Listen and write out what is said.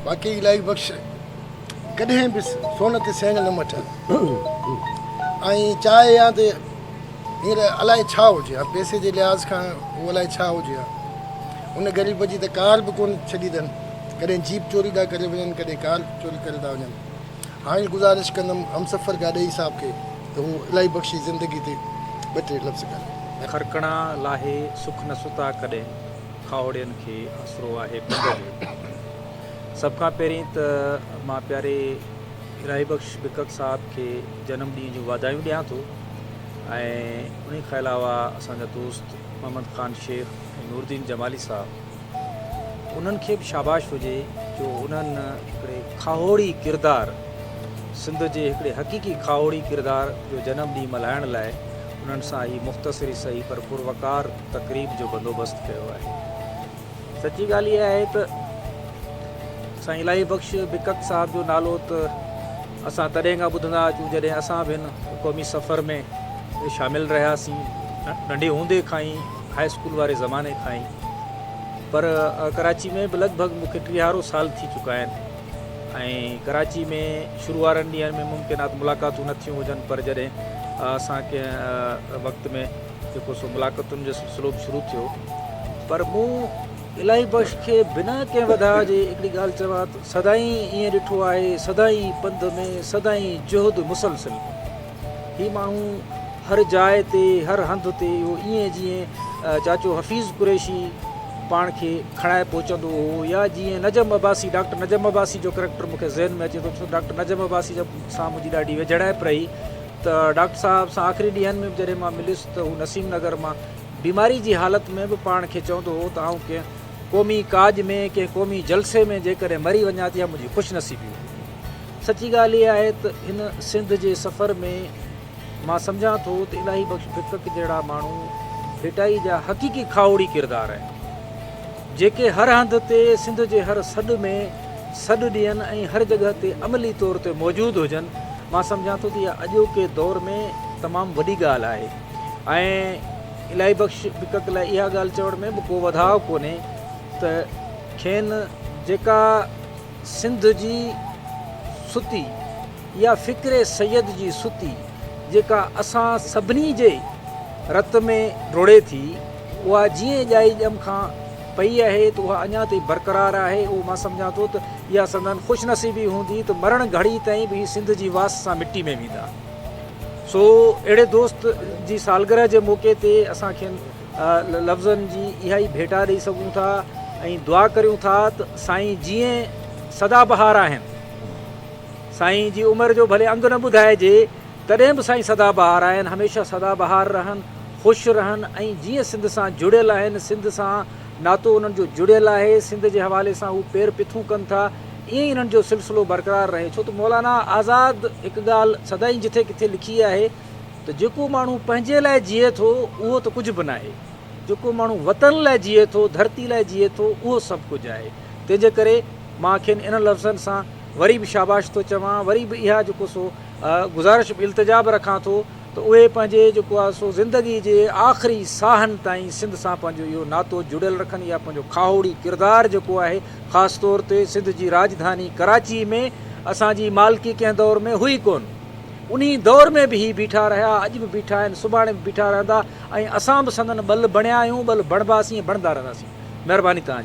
باقي الاهي بخش ڪڏهن به سونهن تي سينگهه نه مٺيا ۽ چاهي يا ته هينئر الائي ڇا هجي ها پئسي جي لحاظ کان هو الائي ڇا هجي ها ان غريب جي ته ڪار به ڪونه ڇڏي اٿن ڪڏهن جيپ چوري ٿا ڪري وڃن ڪڏهن ڪار چوري ڪري ٿا وڃن هاڻي گذارش ڪندم همسفر گاڏهي صاحب کي ته هو الاهي بخش جي زندگي تي ٻه ٽي لفظ ڪن. کرڪڻا لاهي سک نه ستا ڪڏهن. کاهوڙين کي آسرو آهي پنڌ جو. سڀ کان پهرين ته مان پياري الاهي بخش بڪڪ صاحب کي جنم ڏينهن جون واڌايون ڏيان ٿو ۽ انهي کان علاوه اسان جا دوست محمد خان شيخ ۽ نورالدين جمالي صاحب انهن کي به شاباش هجي جو انهن هڪڙي کاهوڙي ڪردار سنڌ جي هڪڙي حقيقي کاهوڙي ڪردار جو جنم ڏينهن ملهائڻ لاء انهن سان هي مختصر ئي سهي پر پروقار تقريب جو بندوبست ڪيو آهي. سچي ڳالهه اها آهي ته سائين الاهي بخش بڪڪ صاحب جو نالو ته اسان تڏهن کان ٻڌندا اچون جڏهن اسان به هن قومي سفر ۾ شامل رهياسين ننڍي هوندي کان ئي هاء اسڪول واري زماني کان ئي پر ڪراچي ۾ به لڳ ڀڳ مون کي ٽيهارو سال ٿي چڪا آهن ۽ ڪراچي ۾ شروع وارن ڏينهن ۾ ممڪن آهي ته ملاقاتون نه ٿيون هجن پر جڏهن اسان ڪنهن وقت ۾ جيڪو سو ملاقتن جو سلسلو به شروع ٿيو پر مون الاهي بخش کي بنا ڪنهن وڌاء جي هڪڙي ڳالهه چوان ته سدائين ائين ڏٺو آهي سدائين پنڌ ۾ سدائين جهد مسلسل هي ماڻهو هر جاء تي هر هنڌ تي اهو ائين جيئن چاچو حفيظ قريشي پاڻ کي کڻائي پهچندو هو يا جيئن نجم عباسي ڊاڪٽر نجم عباسي جو ڪريڪٽر مون کي ذهن ۾ اچي ٿو ڇو ڊاڪٽر نجم عباسي سان منهنجي ڏاڍي ويجهڙائپ رهي ته ڊاڪٽر صاحب سان آخري ڏينهن ۾ به جڏهن مان مليس ته هو نسيم نگر مان بيماري جي حالت ۾ به پاڻ کي چوندو هو ته آئون ڪنهن قومي ڪاڄ ۾ ڪنهن قومي جلسي ۾ جيڪڏهن مري وڃان ته اها منهنجي خوش نصيبي هوندي. سچي ڳالهه اها آهي ته هن سنڌ جي سفر ۾ مان سمجهان ٿو ته الاهي بخش ڦڪڪ جهڙا ماڻهو ڀيٽائي جا حقيقي کاهوڙي ڪردار آهن. جيڪي هر هنڌ تي سنڌ جي هر سڏ ۾ سڏ ڏين ۽ هر جڳهه تي عملي طور تي موجود هجن، مان سمجهان ٿو ته اها اڄوڪي دور ۾ تمام وڏي ڳالهه آهي ۽ الاهي بخش بڪڪ لاء اها ڳالهه چوڻ ۾ به ڪو وڌاء ڪونهي ته کين جيڪا سنڌ جي ستي يا فڪر سيد جي ستي جيڪا اسان سڀني جي رت ۾ رڙهي ٿي، اها جيئن ڄائي ڄم کان پئي آهي ته اها اڃا تائين برقرار آهي. اهو مان سمجهان ٿو ته اها سندن خوش نصيبي هوندي ته مرڻ گهڙي تائين به هي سنڌ جي واس سان مٽي ۾ ويندا. سو اهڙي دوست جي سالگرهه جي موقعي تي اسان کين لفظن جي اها ئي ڀيٽا ڏئي سگهون ٿا ۽ دعا ڪريون ٿا ته سائين جيئن سدا بهار آهن. سائين جي عمر جو ڀلي انگ نه ٻڌائجي. تڏهن به سائين سدا بهار آهن، هميشه سدا بهار رهن، خوش رهن ۽ جيئن سنڌ سان جڙيل آهن، سنڌ سان ناتو انهن جو جڙيل آهي، سنڌ جي حوالي سان هو پير پٿون ڪن ٿا، ائين ئي انهن جو سلسلو برقرار رهي ڇو ته مولانا آزاد هڪ ڳالهه سدائين جٿي ڪٿي لکي آهي ته جيڪو ماڻهو پنهنجي لاء جيئي ٿو اهو ته ڪجهه به ناهي، جيڪو ماڻهو وطن لاء جيئي ٿو، ڌرتي لاء جيئي ٿو اهو سڀ ڪجهه آهي، تنهنجي ڪري مان کين انهن لفظن سان وري به شاباش ٿو چوان، وري به اها جيڪو سو. گذارش به التجا به رکان ٿو ته اهي پنهنجي جيڪو آهي سو زندگي جي آخري ساهن تائين سنڌ سان پنهنجو اهو ناتو جڙيل رکن يا پنهنجو کاهوڙي ڪردار جيڪو آهي خاص طور تي سنڌ جي راڄڌاني ڪراچي ۾ اسان جي مالڪي ڪنهن دور ۾ هئي ڪونه انهي دور ۾ به هي بيٺا رهيا اڄ به بيٺا آهن سڀاڻي به بيٺا رهندا ۽ اسان به سندن ٻل بڻيا آهيون ٻل بڻباسين ۽ بڻندا رهنداسين مهرباني توهان جي.